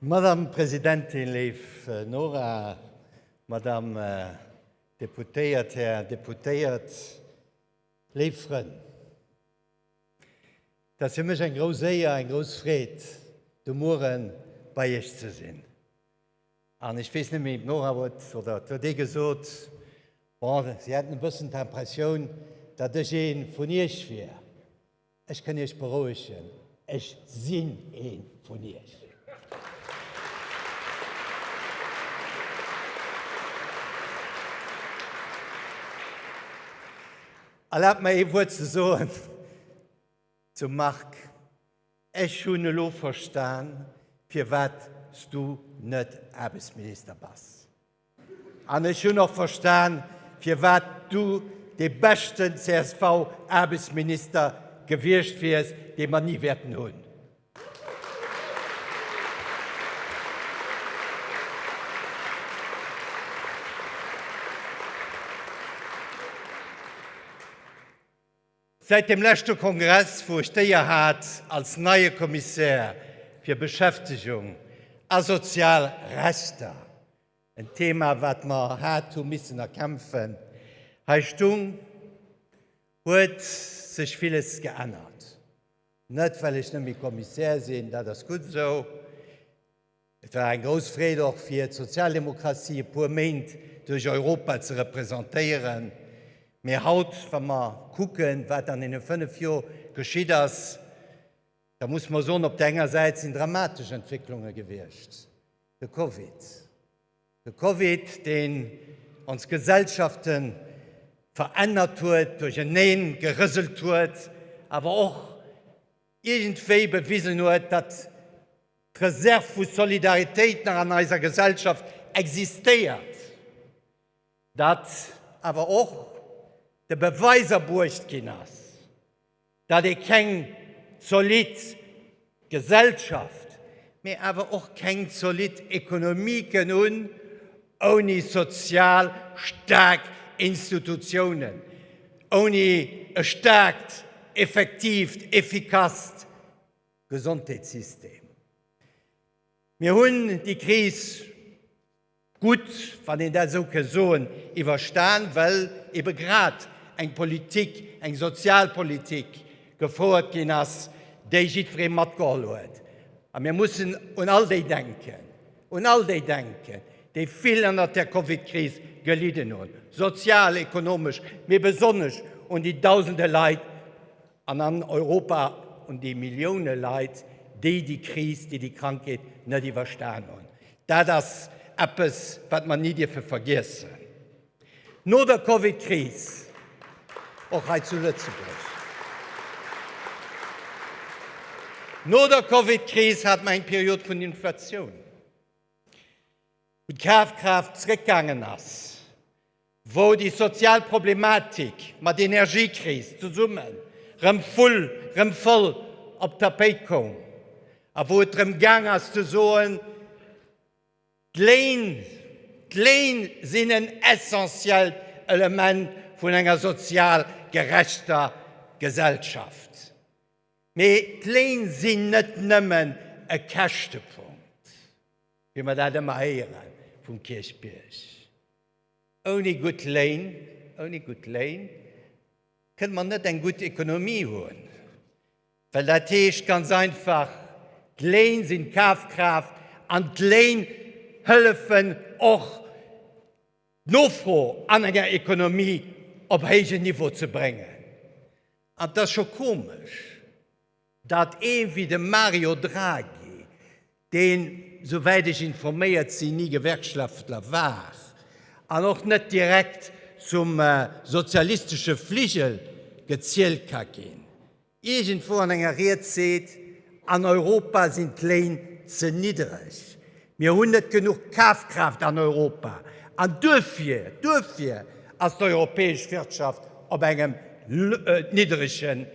Madame Presidentin, léif Nora, Madame äh, Deputéiert, Här Deputéiert, léif Frënn, et ass fir mech eng grouss Éier, eng grouss Freed, de Muere bei Iech ze sinn. An ech weess net méi, ob d'Nora huet, oder et huet ee gesot, bon, si hätten e bëssen d'Impressioun, datt ech ee vun Iech wier. Ech kënn Iech berouegen, ech sinn ee vun Iech. Erlaabt mer ee Wuert ze soen zum Marc. Ech hunn elo verstan, firwat s du net Aarbechtsminister bass. An ech hunn och verstan, firwat du dee beschten CSV-Aarbechtsminister gewiescht wiers, dee mer ni wäerten hunn. Säit dem leschte Kongress, wou ech d'Éier hat, als neie Kommissär fir Beschäftegung a sozial Rechter, en Thema, wat mer haart hu missen erkämpfen, hei stung, huet sech villes geännert. Net, well ech net méi Kommissär sinn, dat ass gutt esou. Et war eng grouss Freed och fir d'Sozialdemokratie e puer Méint duerch Europa ze representéieren. Mee haut, wa mer kucken, wat an deene fënnef Jor geschitt ass, da muss mer soen, op der enger Säit sinn dramatesch Entwécklunge gewiescht, de Covid, de Covid, deen ons Gesellschafte verännert huet, duercherneen gerëselt huet, awer och, iergendwéi bewisen huet, datt d'Reserv vu Solidaritéit nach an eiser Gesellschaft existéiert, datt awer och de Beweis erbruecht ginn ass, datt ee keng zolidd Gesellschaft, mee awer och keng zolidd Ekonomie kënn hunn ouni sozial staark Institutiounen. Ouni e staarkt, effektiivt, effikasst Gesondheetssystem. Mir hunn déi Kris gutt, wann een dat esou ka soen, iwwerstan, well ebe grad eng Politik, eng Sozialpolitik gefouert ginn ass, déi jiddweree matgeholl huet. A mir mussen un all déi denken, Un all déi denken, déi vill ënnert der Covid-Kris gelidden hunn, sozial, ekonomesch, mee besonnesch un déi Dausende Leit an an Europa, un déi Millioune Leit, déi déi Kris, déi déi Krankheet net iwwerstan hunn. Dat ass eppes, wat mer ni dierfe vergiessen. No der Covid-Kris, och hei zu Lëtzebuerg, no der Covid-Kris hat mer eng Period vun Inflatioun, wou d'Kafkraaft zréckgaangen ass, wou déi sozial Problematik mat Energiekris zesummen rëm vull, rëm voll op d'Tapéit koum a wou et drëm gaang ass ze soen, D'Léin, D'Léin sinn en essentiellt Element vun enger sozial gerechter Gesellschaft. Mee d'Léin sinn net nëmmen e Käschtepunkt, wéi mer dat ëmmer héiere vum Kierchbierg. Ouni gutt Léin, ouni gutt Léin kënne mer net eng gutt Ekonomie hunn. Well dat heescht ganz einfach, d'Léin sinn d'Kafkraaft an d'Léin hëllefen och d'Nofro an enger Ekonomie op héijen Niveau ze bréngen. An et ass scho komesch, datt ee wéi de Mario Draghi deen, souwäit ech informéiert sinn, ni Gewerkschaftler war an och net direkt zum sozialistesche Fligel gezielt ka ginn, iergendwou an enger Ried seet, an Europa sinn d'Léin ze niddreg, mir hunn net genuch Kafkraaft an Europa an duerfir, duerfir ass d'europäesch Wirtschaft op engem niddregen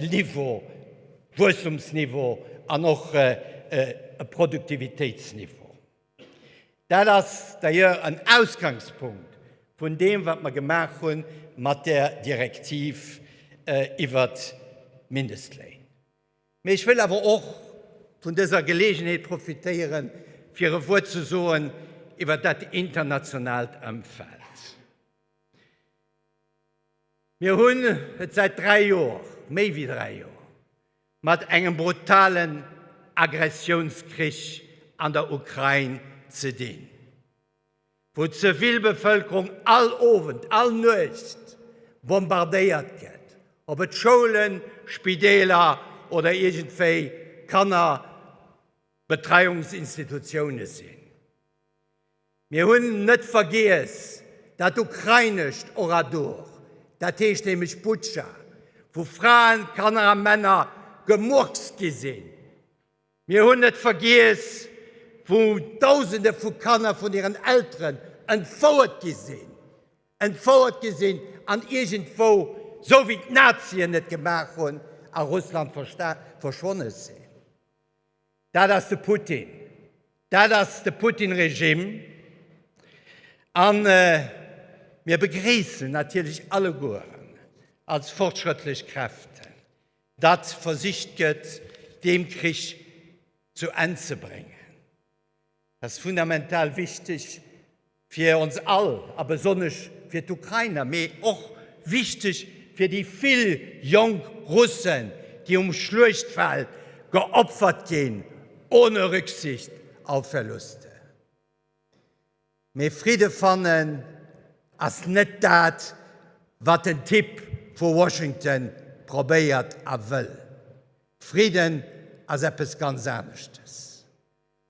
Niveau. Wuesstumsniveau an och e Produktivitéitsniveau. Dat ass d'ailleurs en Ausgangspunkt vun deem, wat mer gemaach hu mat där Direktiv iwwer d'Mindestléin. Mee ech wëll awer och vun dëser Geleegenheet profitéieren, fir e Wuert ze soen iwwer dat internationaalt Ëmfeld. Mir hunn et säit dräi Joer, méi wéi dräi Joer, mat engem brutalen Aggressiounskrich an der Ukrain ze dinn, wou d'Zivilbevëlkerung all Owend, all Nuecht bombardéiert gëtt, ob et Schoulen, Spideeler oder iergendwéi Kannerbetreiungsinstitutioune sinn. Mir hunn net vergiess dat ukrainescht Oradour, dat heescht nämlech Butscha, wou Fraen, Kanner a Männer gemurkst gi sinn. Mir hunn net vergiess, wou Dausende vu Kanner vun hiren Elteren entfouert gi sinn, entfouert gi sinn an iergendwou, sou wéi d'Nazien et gemaach hunn, a Russland verschwonne sinn. Dat ass de Putin. Dat ass de Putin-Regime. A mir begréissen natierlech allegueren als fortschrëttlech Kräften, datt versicht gëtt, deem Krich zu Enn ze bréngen. Dat ass fundamental wichteg fir ons all a besonnesch fir d'Ukrainer, mee och wichteg fir déi vill jonk Russen, déi um Schluechtfeld geopfert ginn, ohne Rücksicht auf Verluste. Mee Fridde fannen ass net dat, wat den Typ vu Washington probéiert a wëll. Fridden ass eppes ganz aneschtes.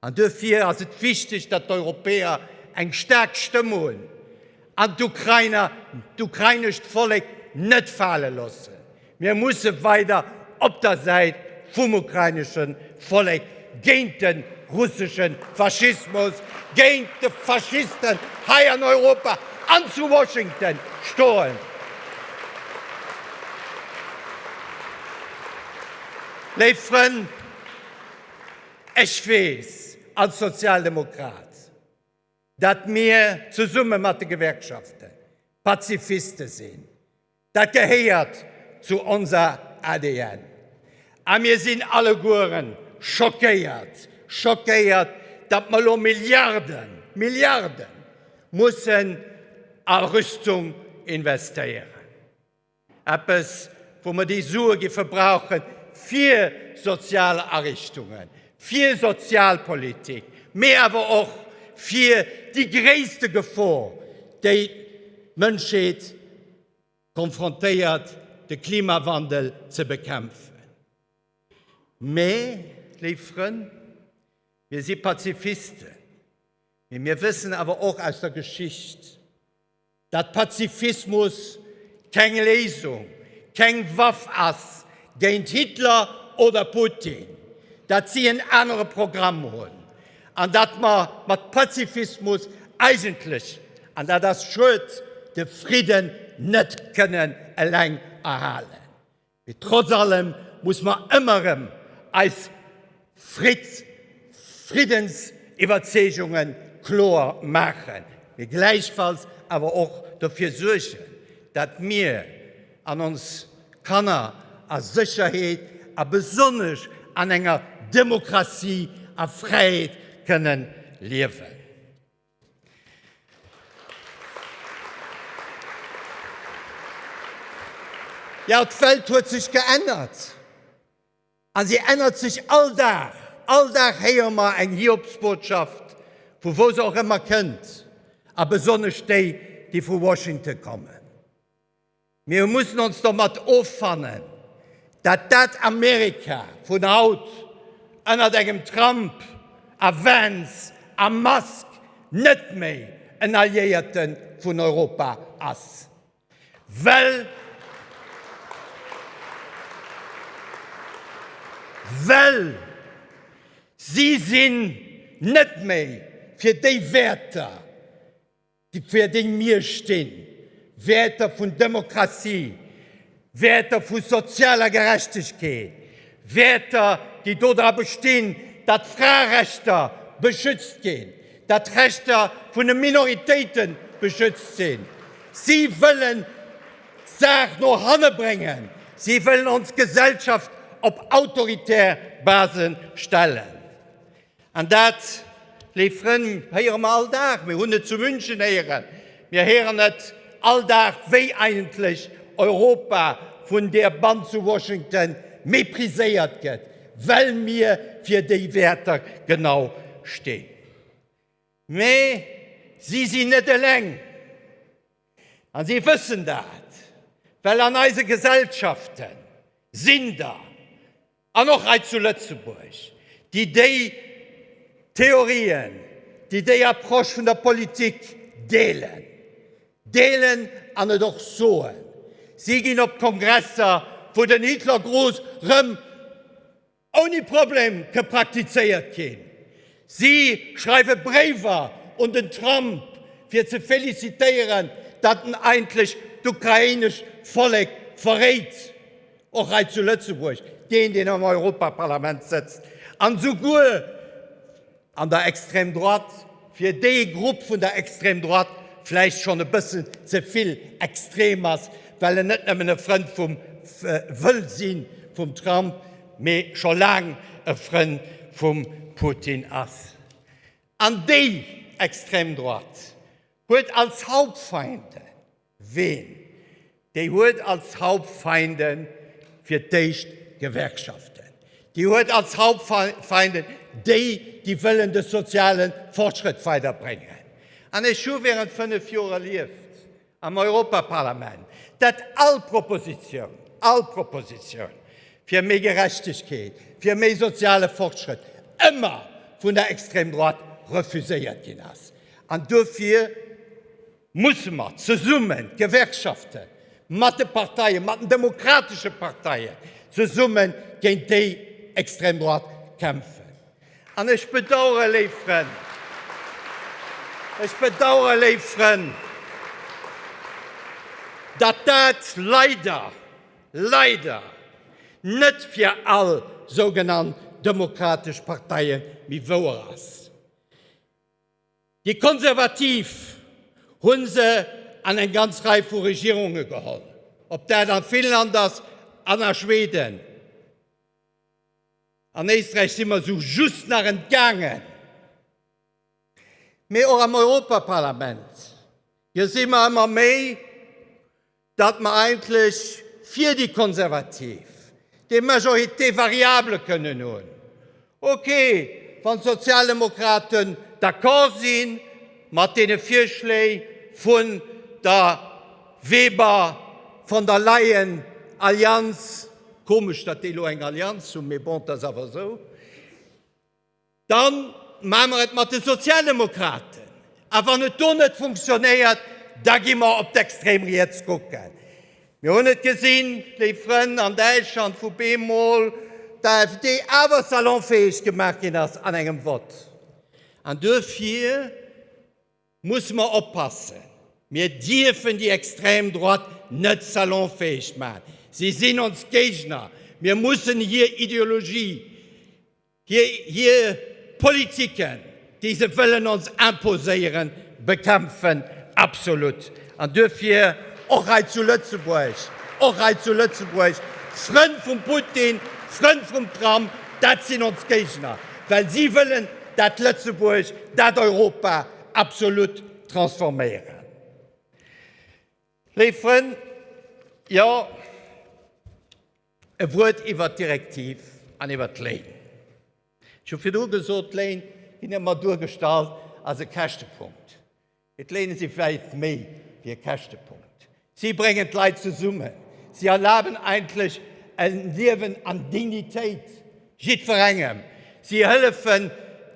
An duerfir ass et wichteg, datt d'Europäer eng staark Stëmm hunn an d'Ukrainer, d'ukrainescht Vollek net fale loossen. Mir musse weider op der Säit vum ukrainesche Vollek géint de russesche Faschismus, géint de Faschisten hei an Europa an zu Washington stoen. Léif Frënn, Ech weess als Sozialdemokrat, datt mir zesumme mat de Gewerkschafte Pazifiste sinn. Dat gehéiert zu onser ADN. A mir sinn allegueren schockéiert, schockéiert, datt mer elo Milliarden, Milliarden mussen a Rüstung investéieren. Eppes, wou mer déi Sue géife brauche fir sozial Ariichtungen, fir Sozialpolitik, mee awer och fir déi gréisste Gefor, déi d'Mënschheet konfrontéiert, de Klimawandel ze bekämpfen. Mee, léif Frënn, mir si Pazifisten, mee mir wëssen awer och aus der Geschicht, Datt Pazifismus keng Léisung, keng Waff ass géint Hitler oder Putin, datt si en anere Programm hunn an datt mer mat Pazifismus eigentlech, an dat ass schued, de Fridden net kënnen eleng erhalen. Mee trotz allem muss mer ëmmer rëm eis Friddens-Iwwerzeegunge kloer maachen, mee gläichfalls awer och dofir suergen, dat mir an ons Kanner a Sécherheet a besonnesch an enger Demokratie a Fräiheet kënnen liewen. Jo, d'Welt huet sech geännert a si ännert sech all Dag. All Dag héiere mer eng Hiobsbotschaft, vu wou se och ëmmer kënnt, a besonnesch déi, déi vu Washington kommen. Mir mussen ons domat offannen, dat dat Amerika vun haut ënnert engem Trump a Vance a Musk net méi en Alliéierte vun Europa ass. Well si sinn net méi fir déi Wäerter. Déi fir déi mir stinn, Wäerter vun Demokratie, Wäerter vu sozialer Gerechtegkeet, Wäerter, déi dodra bestinn, datt Fraerechter beschützt ginn, datt d'Rechter vun de Minoritéite beschützt sinn. Si wëllen d'Saach no hanne bréngen. Si wëllen ons Gesellschaft op autoritär Base stellen. An dat, léif Frënn, héiere mer all Dag. Mir hunn et zu München héieren, mir héieren et all Dag, wéi eigentlech Europa vun där Band zu Washington mépriséiert gëtt, well mir fir déi Wäerter genau stinn. Mä si sinn net eleng. A si wëssen dat, well an eise Gesellschafte sinn der An och hei zu Lëtzebuerg, déi déi Theorien, déi déi Approche vun der Politik deelen, deelen an et och soen. Si ginn op Kongresser, wou den Hitlergruß rëm ouni Problem ke praktizéiert ginn. Si schreiwe Bréiwer un den Trump, fir ze felicitéieren, datt en eigentlech d'ukrainesch Vollek verréit. Och hei zu Lëtzebuerg, deen, deen am Europaparlament sëtzt an souguer an der Extrême droite, fir dee Grupp vun der Extrême droite vläicht schonn e bëssen ze vill extrem ass, well en net nëmmen e Frënd vum, wëll sinn, vum Trump, mee scho laang e Frënd vum Putin ass. An déi Extrême droite huet als Hauptfeinde, Ween? Déi huet als Hauptfeinden fir d'éischt d'Gewerkschaften. Déi huet als Hauptfeinden déi, déi wëllen de soziale Fortschrëtt weiderbréngen. An ech hu während fënnef Joer erlieft am Europaparlament, datt all Proposition, all Proposition fir méi Gerechtegkeet, fir méi soziale Fortschrëtt ëmmer vun der Extrême droite refuséiert ginn ass. An duerfir. musse mer zesummen, d'Gewerkschaften, mat de Parteien, mat den demokratesche Parteien zesummen géint déi extrem Droite kämpfen. An ech bedauere, léif Frënn, ech bedauere, léif Frënn, datt dat leider, leider net fir all sougenannt demokratesch Parteie méi wouer ass. Déi Konservativ hu se an eng ganz Rei vu Regierunge geholl, ob dat a Finnland ass an a Schweden. An Éisträich si mer esou just nach entgaangen. Mee och am Europaparlament, jo, si mer ëmmer méi datt mer eigentlech fir déi Konservativ déi Majorité variable kënnen hunn, okay, wann d'Sozialdemokraten d'accord si mat deene Virschléi vun der Weber, Von der Leyen Allianz, komesch, datt déi elo eng Allianz hunn, mee bon, dat ass awer esou. Dann maache mer et mat de Sozialdemokraten. A wann et do net funktionéiert, da gi mer op d'extrem Riets kucken. Mir hunn et gesinn, léif Frënn, an Däitschland, wou bemol d'AfD awer salonfäeg gemaach ginn ass an engem Vott. An duerfir musse mer oppassen. Mir dierfen déi extrem Droite net salonfäeg maachen. Si sinn ons Géigner. Mir mussen hir Ideologie Hir Politiken, déi se wëllen ons imposéieren, bekämpfen. Absolut. An duerfir och hei zu Lëtzebuerg, och hei zu Lëtzebuerg, Frënn vum Putin, Frënn vum Trump, dat sinn ons Géigner, well si wëllen dat Lëtzebuerg, dat Europa absolut transforméieren. Léif Frënn, jo, E Wuert iwwert d'Direktiv an iwwert d'Léin. Ech hu virdu gesot, d'Léin ginn ëmmer duergestallt als e Käschtepunkt. Mee d'Léine si wäit méi wéi e Käschtepunkt. Si bréngen d'Leit zesummen. Si erlaben eigentlech e Liewen an Dignitéit jiddwerengem. Si hëllefen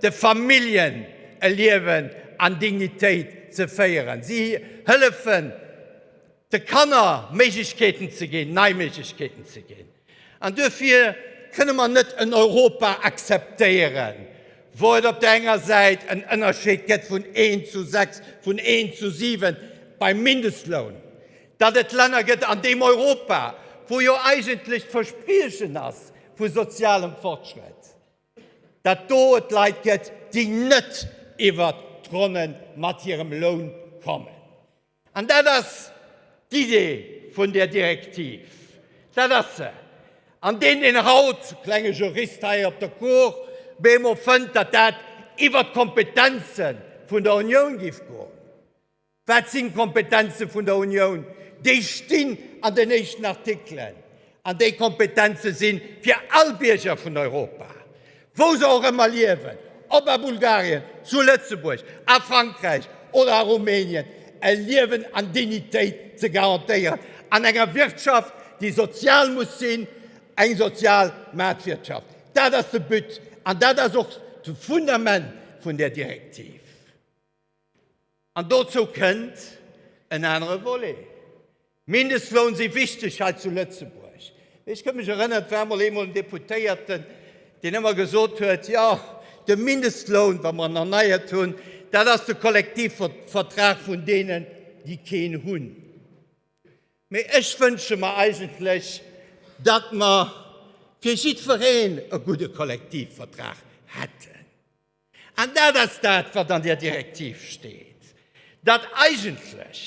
de Familljen, e Liewen an Dignitéit ze féieren. Si hëllefen, de Kanner Méiglechkeeten ze ginn, nei Méiglechkeeten ze ginn. An duerfir kënne mer net en Europa akzeptéieren, wou et op der enger Säit en Ënnerscheed gëtt vun een zu sechs, vun een zu siwen beim Mindestloun, datt et Länner gëtt an deem Europa, wou jo eigentlech d'Verspriechen ass vu sozialem Fortschrëtt, datt do et Leit gëtt, déi net iwwert d'Ronne mat hirem Loun kommen. An dat ass d'Idee vun där Direktiv, dat ass se. An deen, deen haut, klenge Jurist hei op der Cour, bemol fënnt, datt dat iwwert d'Kompetenze vun der Unioun géif goen, wat sinn d'Kompetenze vun der Unioun? Déi stinn an den éischten Artikelen. An déi Kompetenze si fir all Bierger vun Europa, wou se och ëmmer liewen, ob a Bulgarien, zu Lëtzebuerg, a Frankräich oder a Rumänien, e Liewen an Dignitéit ze garantéieren an enger Wirtschaft, déi sozial muss sinn, eng sozial Maartwirtschaft. Dat ass de But an dat ass och de Fundament vun där Direktiv. An dozou kënnt en anere Volet. Mindestloun si wichteg hei zu Lëtzebuerg. Ech kënn mech erënneren, et war mol eemol en Deputéierten, deen ëmmer gesot huet, jo, de Mindestloun, wa mer en erneiert hunn, dat ass de Kollektivvertrag vun deenen, déi keen hunn. Mee ech wënsche mer eigentlech, datt mer fir jiddwereen e gudde Kollektivvertrag hätten. An dat ass dat, wat an där Direktiv steet, datt eigentlech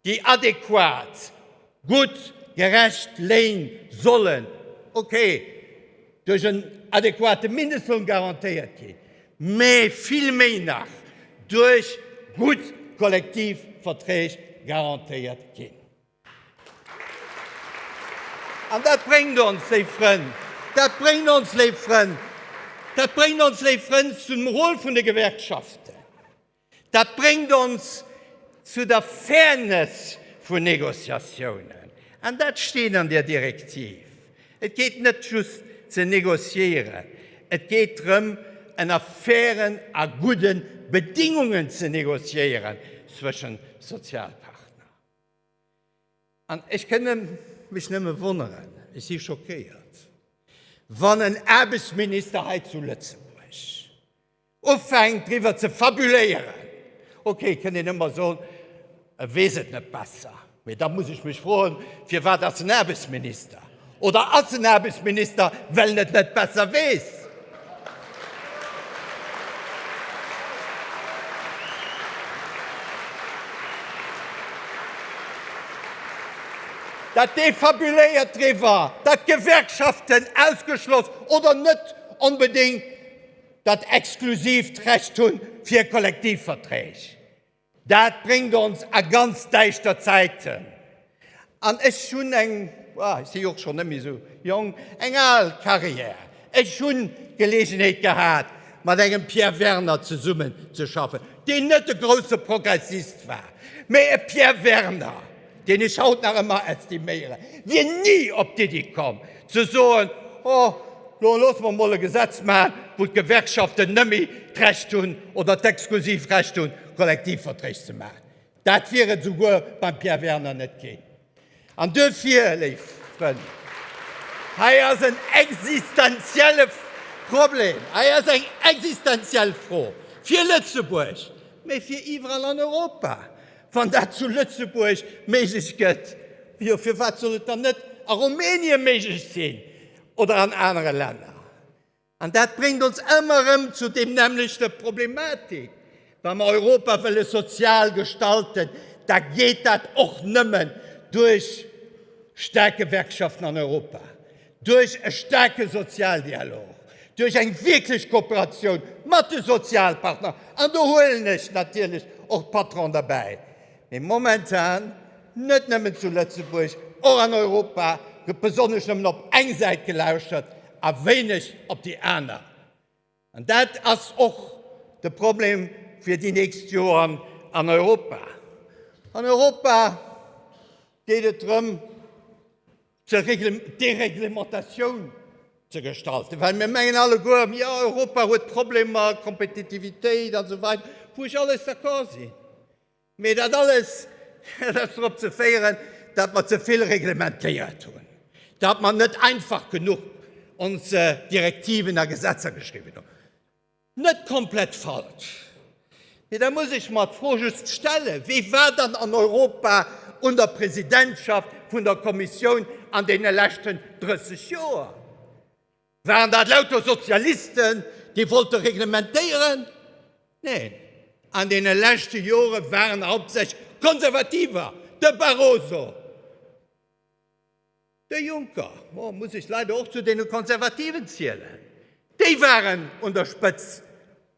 déi adequat, gutt, gerecht Léin sollen, okay, duerch en adequate Mindestloun garantéiert ginn, mä vill méi nach duerch gutt Kollektivverträg garantéiert ginn. An dat bréngt ons, léif Frënn, dat bréngt ons, léif Frënn, dat bréngt ons, léif Frënn, zum Rôle vun de Gewerkschaften. Dat bréngt ons zu der Fairness vun Négociatiounen. An dat steet an där Direktiv. Et geet net just ze négociéieren, et geet drëm, ënner fairen a gudde Bedingungen ze négociéieren zwëschen Sozialpartner. An ech kënne mech nëmme wonneren, ech si schockéiert, wann en Aarbechtsminister hei zu Lëtzebuerg ufänkt driwwer ze fabuléieren, okay, kënnt een ëmmer soen, e weess et net besser, mee da muss ech mech froen, firwat ass en Aarbechtsminister? Oder ass en Aarbechtsminister, well en et net besser weess? Dat dee fabuléiert driwwer, datt d'Gewerkschaften ausgeschloss oder net onbedéngt dat exklusiivt Recht hunn fir Kollektivverträg. Dat bréngt ons a ganz däischter Zäiten. An ech hunn eng, ech si jo och schonn net méi esou jonk, eng al Carrière. Ech hu Geleegenheet gehat, mat engem Pierre Werner zesummenzeschaffen, deen net e grousse Progressist war, mee e Pierre Werner, deen ech haut nach ëmmer estiméieren, wier ni op d'Iddi komm ze soen, oh lo loosse mer emol e Gesetz maachen, wou d'Gewerkschaften nëmme d'Recht hunn oder d'exklusiv Recht hunn, Kollektivverträg ze maachen. Dat wier et esouguer beim Pierre Werner net ginn. An duerfir, léif Frënn, hei ass en existenzielle Problem, hei ass eng existenziell Fro fir Lëtzebuerg, mee fir iwwerall an Europa, Wann dat zu Lëtzebuerg méiglech gëtt, jo firwat soll et dann net a Rumänien méiglech sinn oder an anere Länner? An dat bréngt ons ëmmer erëm zu deem nämmlechte Problematik, Wa mer Europa wëlle sozial gestalten, da geet dat och nëmmen duerch staark Gewerkschaften an Europa. Duerch e staarke Sozialdialog, duerch eng wierklech Kooperatioun mat de Sozialpartner, an do huelen ech natierlech och d'Patronen derbäi, mee momentan net nëmmen zu Lëtzebuerg, och an Europa gëtt besonnesch nëmmen op eng Säit gelauschtert a wéineg op déi aner. An dat ass och de Problem fir déi nächst Joren an Europa. An Europa geet et drëm, d'Dereglementatioun ze gestalten, well mir mengen alleguer, jo Europa huet Problemer, Kompetitivitéit a sou weider, wou ech alles d'accord sinn. Mee dat alles, dat ass drop ze féieren, datt mer ze vill reglementéiert hunn, datt mer net einfach genuch ons Direktiven a Gesetzer geschriwwen hunn. Net komplett falsch, mee da muss ech mer d'Fro just stellen, Wie war dann an Europa un der Presidentschaft vun der Kommissioun an deene leschten 30 Joer? Waren dat lauter Sozialisten, déi wollte reglementéieren? Neen, an deene leschte Jore waren hauptsächlech Konservativer, de Barroso, de Juncker, oh, muss ech leider och zu deene Konservativen zielen, déi waren un der Spëtzt.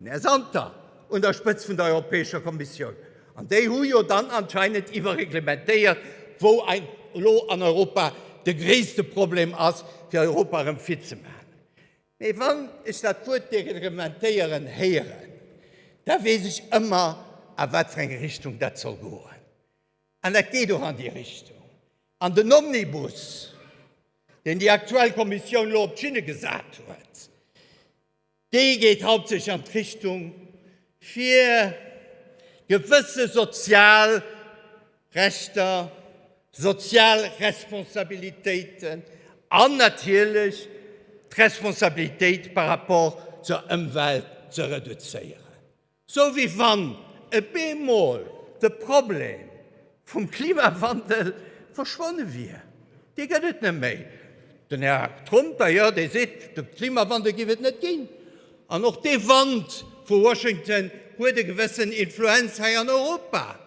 D'Mme Santer un der Spëtzt vun der Europäescher Kommissioun, an déi hu jo dann anscheinend iwwerreglementéiert, wou elo an Europa de gréisste Problem ass, fir Europa erëm fit ze maachen. Mee wann ech dat Wuert dereglementéieren héieren, da weess ech ëmmer, a wat fir eng Richtung dat soll goen. An dat geet och an déi Richtung. An den Omnibus, deen déi aktuell Kommissioun elo op d'Schinne gesat huet, Déi geet haaptsächlech an d'Richtung, fir gewësse sozial Rechter, sozial Responsabilitéiten an natierlech d'Responsabilitéit par rapport zur Ëmwelt ze reduzéieren. Sou wéi wann e bemol de Problem vum Klimawandel verschwonne wier. Dee gëtt et net méi. Den Här Trump d'ailleurs, dee seet, de Klimawandel géif et net ginn. An och dee Wand vu Washington huet e gewëssen Influenz hei an Europa.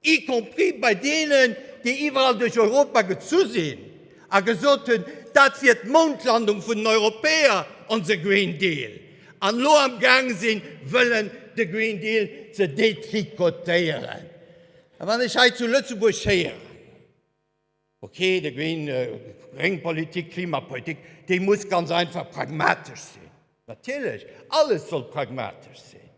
y compris bei deenen, déi iwwerall duerch Europa gezu sinn a gesot hunn, dat wier d'Moundlandung vun den Europäer, onse Green Deal, an elo amgaang sinn, wëllen de Green Deal ze détricotéieren. A wann ech hei zu Lëtzebuerg héieren, Okay, de Green, gréng Politik, Klimapolitik, déi muss ganz einfach pragmatesch sinn. Natierlech, alles soll pragmatesch sinn.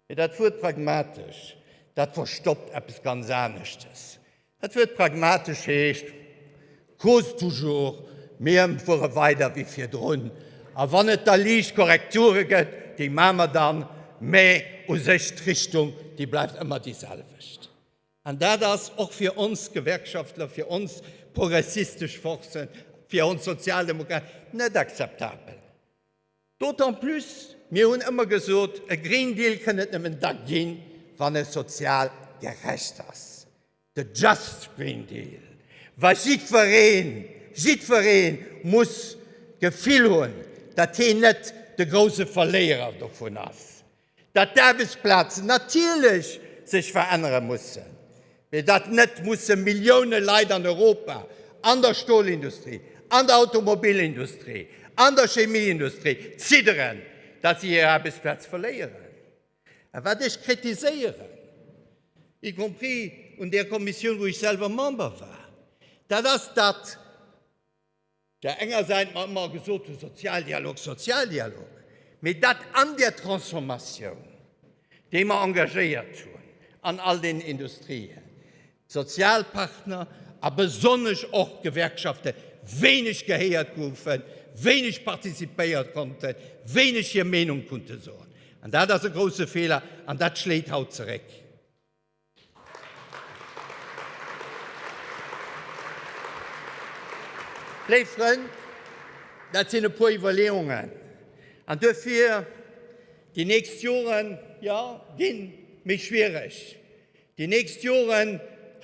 Mee dat Wuert pragmatesch, dat verstoppt eppes ganz aneschtes. Dat Wuert pragmatesch heescht, Cause toujours, mir fuere weider wéi virdrun, a wann et da liicht Korrekture gëtt, déi maache mer dann, mee u sech d'Richtung, déi bleift ëmmer déi selwecht. An dat ass och fir ons Gewerkschaftler, fir ons progressistesch Forcen, fir ons Sozialdemokraten net akzeptabel. D'autant plus, mir hunn ëmmer gesot, e Green Deal kënn et nëmmen da ginn, wann e sozial gerecht ass. De Just Green Deal, wa jiddwereen, jiddweree muss d'Gefill hunn, datt hien net de grouse Verléierer dovun ass. Datt d'Aarbechtsplazen natierlech sech verännere mussen, mee datt net musse Millioune Leit an Europa an der Stolindustrie, an der Automobilindustrie, an der Chemieindustrie zidderen, datt si hir Aarbechtsplaz verléieren. A wat ech kritiséieren, y compris un där Kommissioun, wou ech selwer Member war, dat ass, datt, Der enger Säit mer ëmmer gesot hunn, Sozialdialog, Sozialdialog, mee dat an där Transformatioun, déi mer engagéiert hunn an all deenen Industrien, d'Sozialpartner a besonnesch och d'Gewerkschafte wéineg gehéiert goufen, wéineg participéiert konnten, wéineg hir Meenung kunnte soen. An dat ass e grousse Feeler an dat schléit haut zeréck. Léif Frënn, dat sinn e puer Iwwerleeungen. An duerfir déi nächst Joren, jo, ginn méi schwiereg. Déi nächst Joren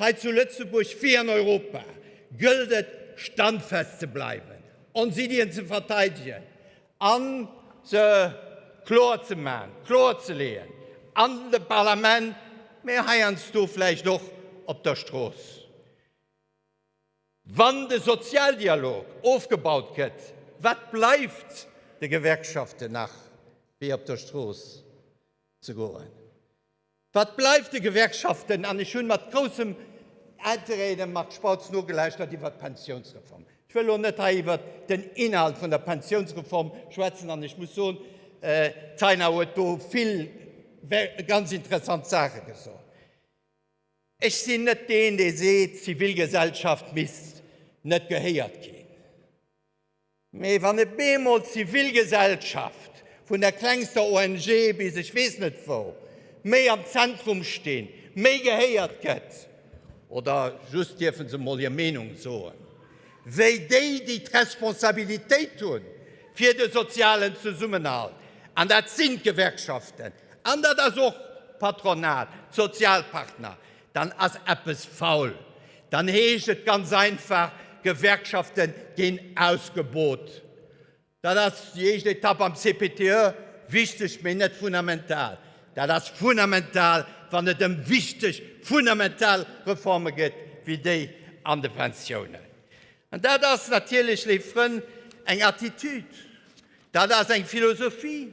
hei zu Lëtzebuerg wéi an Europa gëllt et standfest ze bleiwen, ons Iddien ze verteidegen, an se kloer ze maachen, kloer ze leeën an dem Parlament, mä heiansdo vläicht och op der Strooss. Wann de Sozialdialog ofgebaut gëtt, wat bleift de Gewerkschaften nach wéi op der Strooss ze goen? Wat bleift de Gewerkschaften? An ech hunn mat groussem Interêt dem Marc Spautz nogelauschtert iwwert d'Pensiounsreform. Ech wëll elo net hei iwwert den Inhalt vun der Pensiounsreform schwätzen, an ech muss soen, d'Taina huet do vill ganz interessant Saache gesot. Ech sinn net deen, dee seet, d'Zivilgesellschaft misst net gehéiert ginn. Mee wann e bemol d'Zivilgesellschaft, vun der klengster ONG bis ech weess net wou, méi am Zentrum stinn, méi gehéiert gëtt, oder just dierfe se mol hir Meenung soen, wéi déi, déi d'Responsabilitéit hu fir de sozialen Zesummenhalt, an dat sinn d'Gewerkschaften an dat ass och d'Patronat, d'Sozialpartner, Dann ass eppes faul. Dann heescht et ganz einfach, Gewerkschafte ginn ausgebot. Dat ass déi éischt Etapp am CPTE wichteg, mee net fundamental. Dat ass fundamental, wann et ëm wichteg, fundamental Reforme geet wéi déi an de Pensiounen. An dat ass natierlech, léif Frënn, eng Attitude, dat ass eng Philosophie,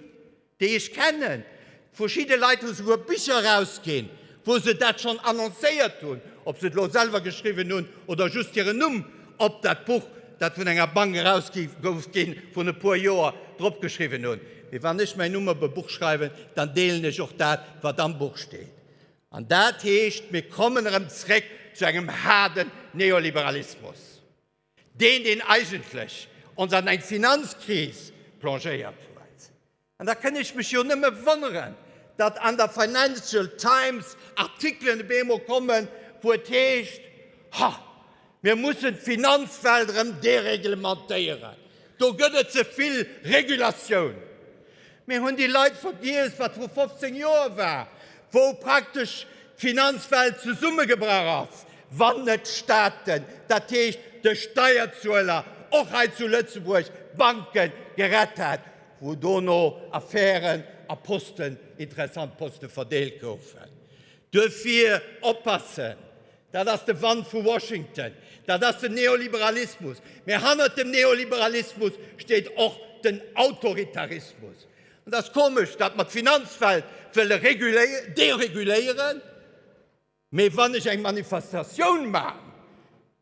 déi ech kennen, verschidde Leit hu souguer Bicher erausginn, wou se dat schonn annoncéiert hunn, ob se et elo selwer geschriwwen hunn oder just hiren Numm op dat Buch, dat vun enger Bank erausgi gouf ginn, vun e puer Joer, drop geschriwwen hunn. Mee wann ech mäin Numm op e Buch schreiwen, dann deelen ech och dat, wat am Buch steet. An dat heescht, mir kommen erëm zréck zu engem haarden Neoliberalismus. Deen, deen eigentlech ons an eng Finanzkris plongéiert huet. An da kënn ech mech jo nëmme wonneren, datt an der Financial Times Artikelen op eemol kommen, wou et heescht, Ha, mir mussen d'Finanzwelt erëm dereglementéieren. Do gëtt et ze vill Regulatioun. Mir hunn déi Leit vergiess, wat vru 15 Joer war, wou praktesch d'Finanzwelt zesummegebrach ass, wann net d'Staaten, dat heescht de Steierzueler, och hei zu Lëtzebuerg d'Banke gerett hätt, wou dono Affären a Posten, interessant Poste verdeelt goufen. Duerfir oppassen! Dat ass de Wand vu Washington, dat ass den Neoliberalismus. Mä hannert dem Neoliberalismus steet och den Autoritarismus. An et ass komesch, datt mer d'Finanzwelt wëlle dereguléieren, mä wann ech eng Manifestatioun maachen,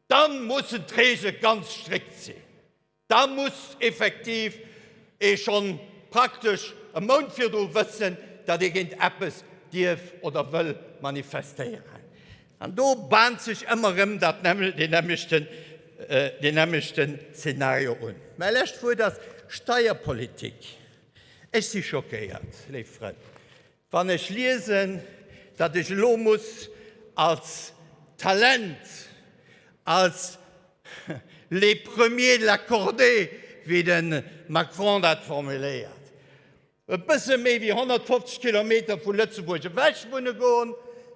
da mussen d'Reegele ganz strikt sinn. Da muss effektiv ee schonn praktesch e Mount virdru wëssen, datt ee géint eppes dierf oder wëll manifestéieren. An do baant sech ëmmer erëm dat nämmlechten, deen nämmlechten Zeenario un. Mäi lescht Wuert ass Steierpolitik. Ech si schockéiert, léif Frënn. Wann ech liesen, datt ech elo muss als Talent, als le premier de la cordée, wéi de Macron dat formuléiert, e bësse méi wéi 150 Kilometer vu Lëtzebuerg ewech wunne goen,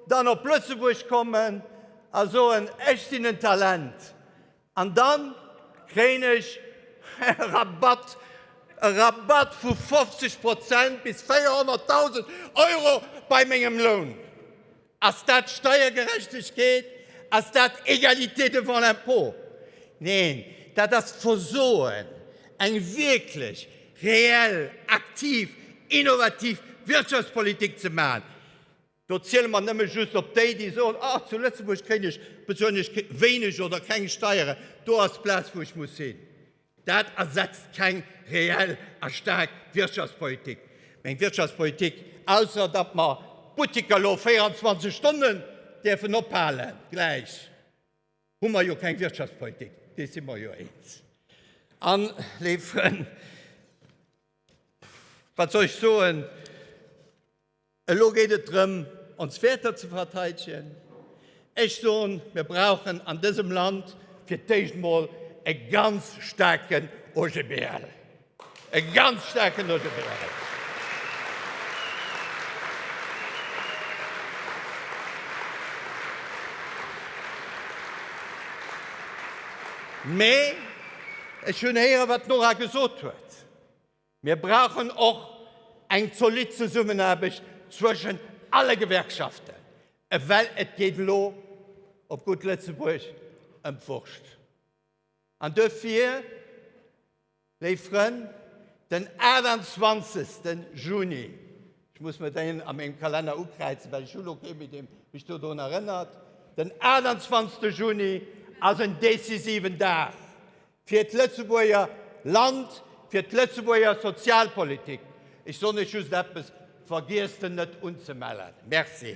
dann op Lëtzebuerg kommen a soen, ech sinn en Talent, An dann kréien ech e Rabatt, e Rabatt vu 50 Prozent bis 400.000 Euro bei mengem Loun. Ass dat Steiergerechtegkeet? Ass dat Égalité devant l'impôt? Neen, dat ass d'Versoen, eng wierklech reell, aktiv, innovativ Wirtschaftspolitik ze maachen. Do ziele mer nëmme just op déi, déi soen, Ah, zu Lëtzebuerg kréien ech, bezuelen ech wéineg oder keng Steieren, do ass d'Plaz, wou ech muss hin. Dat ersetzt keng reell a staark Wirtschaftspolitik. Meng Wirtschaftspolitik, ausser datt mer d'Butteker elo 24 Stonnen däerfen ophale gläich, hu mer jo keng Wirtschaftspolitik, dees si mer jo eens. An, léif Frënn, wat soll ech soen? Elo geet et drëm, ons Wäerter ze verteidegen. Ech soen, mir brauchen an dësem Land fir d'éischt emol e ganz staarken OGBL. E ganz staarken OGBL! Mee ech hunn héieren, wat d'Nora gesot huet. Mir brauchen och eng zolidd Zesummenaarbecht zwëschen alle Gewerkschaften, well et geet elo, op gutt Lëtzebuerg, ëm d'Wurscht. An dofir, léif Frënn, den 28. Juni, ech muss mer deen a mengem Kalenner ukräizen, well ech hu lo kee méi, dee mech dodrun erënnert, den 28. Juni ass en decisiven Dag Fir d'Lëtzebuerger Land, fir d'Lëtzebuerger Sozialpolitik, ech soen Iech just eppes, Vergiesst en net unzemellen. Merci.